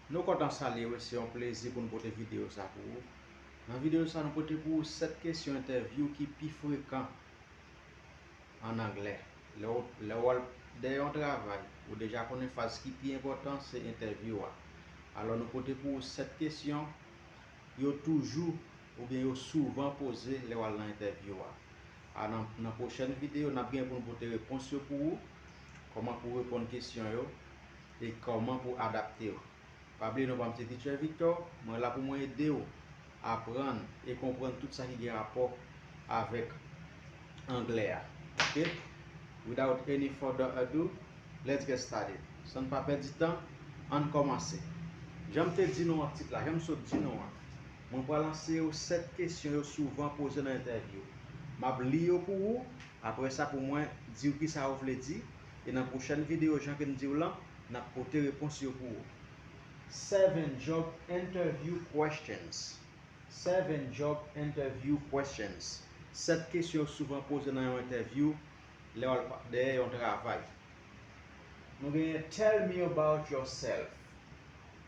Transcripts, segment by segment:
Nou kontan salye ou, se yon plezi pou nou pote videyo sa pou ou. Nan videyo sa nou pote pou ou 7 kesyon entèvyou ki pi frekan an anglè. Lè ou al dèyè yon travay, ou deja konnen faz ki pi enpòtan se entèvyou a. Alò nou pote pou ou 7 kesyon yo toujou oubyen yo souvan poze lè wal nan entèvyou a a nan nan pwochèn videyo nap gen poun pote repons yo pou ou kòman pou reponn kesyon yo e kòman pou adaptew pa bliye non pam se Teacher Victor mwen la pou mwen edew aprann e konprann tout sa ki gen rapò avèk anglè a ok without any further ado let's get started sann pa pèdi tan ann kòmanse janm te di nou an tit la janm sot di nou an. Mwen pral anseye w 7 kesyon yo souvan poze nan entèvyou. M ap li yo pou ou, apre sa pou mwen di w kisa yo vle di, e nan pwochèn videyo jan ke m di w lan, n ap pote repons yo pou ou. 7 Job Interview Questions 7 Job Interview Questions 7 kesyon yo souvan poze nan yon entèvyou lè w al dèyè yon travay Nou genyen Tell me about yourself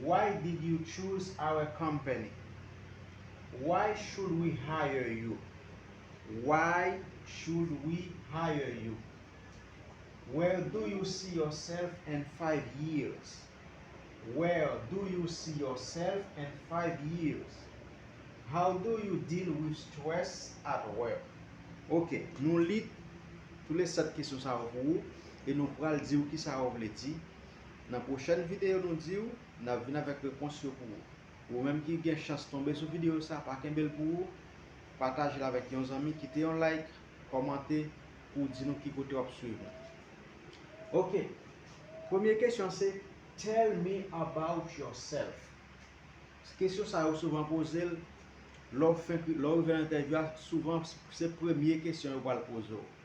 Why did you choose our company? Why should we hire you? Why should we hire you? Where do you see yourself in five years? Where do you see yourself in five years? How do you deal with stress at work? Ok, nou li toule sèt kesyon sa yo pou ou e nou pral di ou kisa yo vle di. Nan pwochèn videyo nou diw nap vin avèk repons yo pou ou. Ou menm ki gen chans tonbe sou videyo sa pa kenbel pou ou, patajel avèk yon zanmi kite yon like, kòmante pou w di nou ki kote wap swiv nou. Ok premye kesyon se tell me about yourself kesyon sa yo souvan pozel lè w fenk lè w rive nan entèvyou a souvan se premye kesyon yo pral poze w.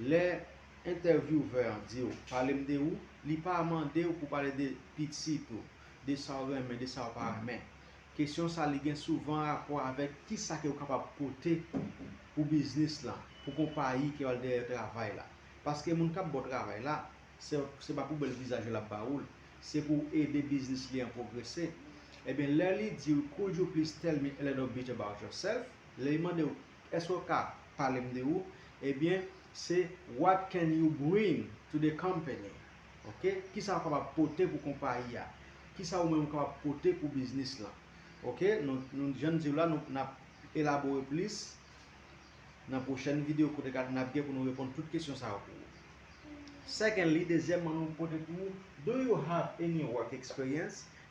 Lè entèvyouve an di w, pale m de ou, li pa mande w pou w pale de pitit ou, de sa w renmen, de sa w pa renmen. Kesyon sa li gen souvan rapò avèk ki sa ke w kapab pote pou biznis lan, pou konpayi ke w al dèyè travay la. Paske moun k ap ba w travay la, se pa pou bèl vizaj yo l ap ba ou l, se pou w ede biznis li an pwogrese. Ebyen lè li di w could you please tell me a little bit about yourself, lè li mande w, Èske w ka pale m de ou? Ebyen, se What can you bring to the company? Ok, kisa ou kapab pote pou konpayi a? Kisa ou menm ou kapab pote pou biznis lan? Ok, nou jan n di w la, nou ap elabore plis nan pwochèn videyo kote k ap n ap gen pou nou reponn tout kesyon sa yo pou ou. Secondly, dezyèmman nou pote pou ou, Do you have any work experience?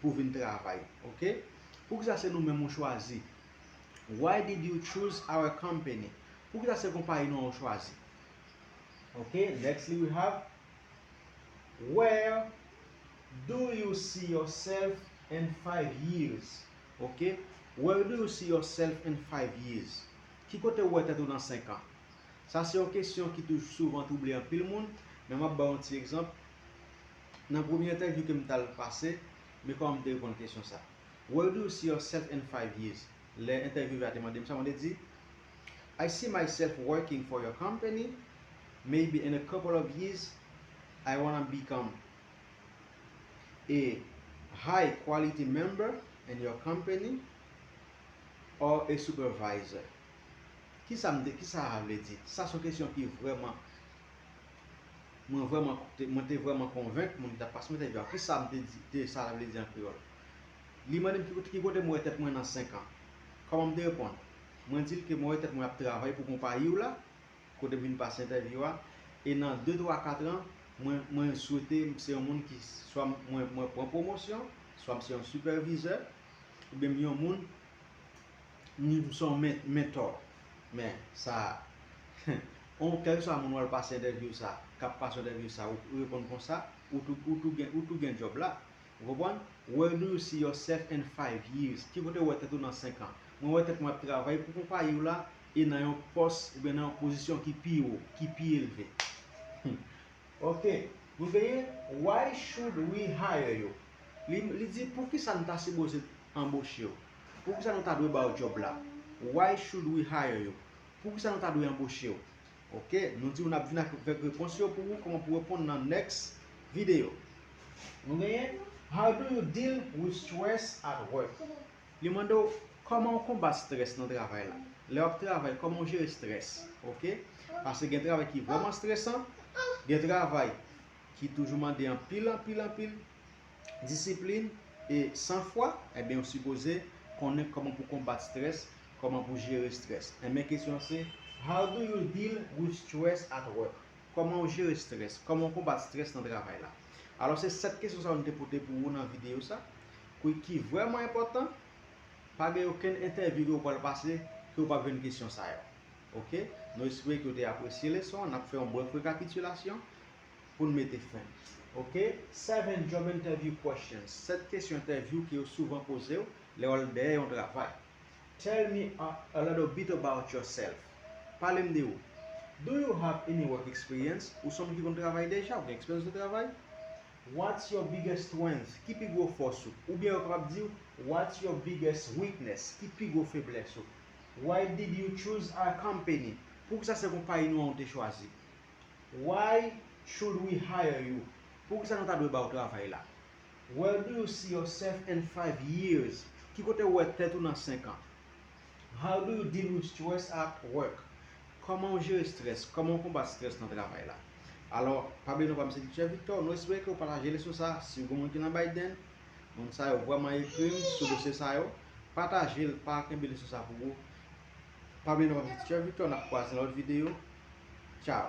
pou vin travay ok poukisa se nou menm ou chwazi why did you choose our company poukisa se konpayi nou an ou chwazi ok nextly we have where do you see yourself in five years ok where do you see yourself in five years ki kote ou wè tèt ou nan 5 an sa se yon kesyon ki toujou souvan twouble anpil moun men map baw yon ti egzanp Nan premye entèvyou ke m ta l pase, me kòman m te reponn kesyon sa. Where do you see yourself in five years? Lè entèvyove a te mande m sa, mwen te di, I see myself working for your company, maybe in a couple of years, I wanna become a high quality member in your company or a supervisor. Kisa m te, kisa sa vle di? Sa se yon kesyon ki vrèman. Mwen vrèman mwen te vrèman konvenk moun ki t ap pase m entèvyou a ki sa m te di te sa vle di an kreyòl. Li mande m ki kote ki kote mwen wè tèt mwen nan senk an. Kòman m te reponn? Mwen di l ke mwen wè tèt mwen ap travay pou konpayi w la, kote m vin pase entèvyou a, e nan de twa katran, mwen mwen swete m se yon moun ki swa mwen mwen pran pwomosyon, swa m se yon sipèvizè, oubyen m yon moun. Ni pou son mentò. Men sa on kèlkeswa moun wal pase entèvyouw sa, kap pase yon entèvyou sa ou reponn konsa, ou tou gen djòb la. Ou konprann? Where do you see yourself in five years? Ki kote ou wè tèt ou nan 5 an? Mwen wè tèt mwen ap travay pou konpayi w la e nan yon pòs oubyen nan yon pozisyon ki pi wo, ki pi elve. Humm ok. Nou genyen Why should we hire you? Li di poukisa n ta sipoze anboche w? Poukisa nou ta dwe ba w job la? Why should we hire you? Poukisa nou ta dwe anboche w? Ok, nou di w nap vin avèk repons yo pou ou kòman pou reponn nan next video. Nou genyen, How do you deal with stress at work? Li mande w kòman ou konbat stress nan travay la? Lè wap travay kòman ou jere stress? Ok, pase gen travay ki vrèman stresan, gen travay ki toujou mande anpil anpil anpil. disiplin e san fwa, enben ou sipoze konnen kòman pou konbat stress, kòman pou jere stress. Enben kesyon se, How do you deal with stress at work? Kòman ou jere stress? Kòman ou konbat stress nan travay la? Alò se 7 kesyon sa yo nou te pote pou ou nan videyo sa, ki vrèman enpòtan, pa gen okenn entèvyou ke ou pral pase ke ou pap jwenn kesyon sa yo. Ok, nou espere ke ou te apresye leson an, nap fè yon brèf rekapitilasyon. pou n mete fen. Ok 7 job interview questions 7 kesyon entèvyou ke yo souvan poze w lè w al dèyè yon travay Tell me a little bit about yourself Pale m de ou Do you have any work experience Ou se yon moun ki konn travay deja, ou gen eksperyans nan travay What's your biggest strength Ki pi gwo fòs ou Oubyen yo kapab di w What's your biggest weakness Ki pi gwo feblès ou Why did you choose our company Poukisa se konpayi nou an ou te chwazi Why should we hire you? Poukisa nou ta dwe ba w travay la? Where do you see yourself in five years? Ki kote ou wè tèt ou nan senk an? How do you deal with stress at work? Kòman ou jere strès? Kòman ou konbat strès nan travay la? Alò, pa bliye non pa m se Teacher Victor, nou espere ke ou pataje leson sa a si gen moun ki nan Biden, moun sa yo vrèman ekri m sou dosye sa yo, pataje l pa kenbe leson sa pou ou, Pa bliye nou abone Teacher Victor nap kwaze nan lòt video Ciao.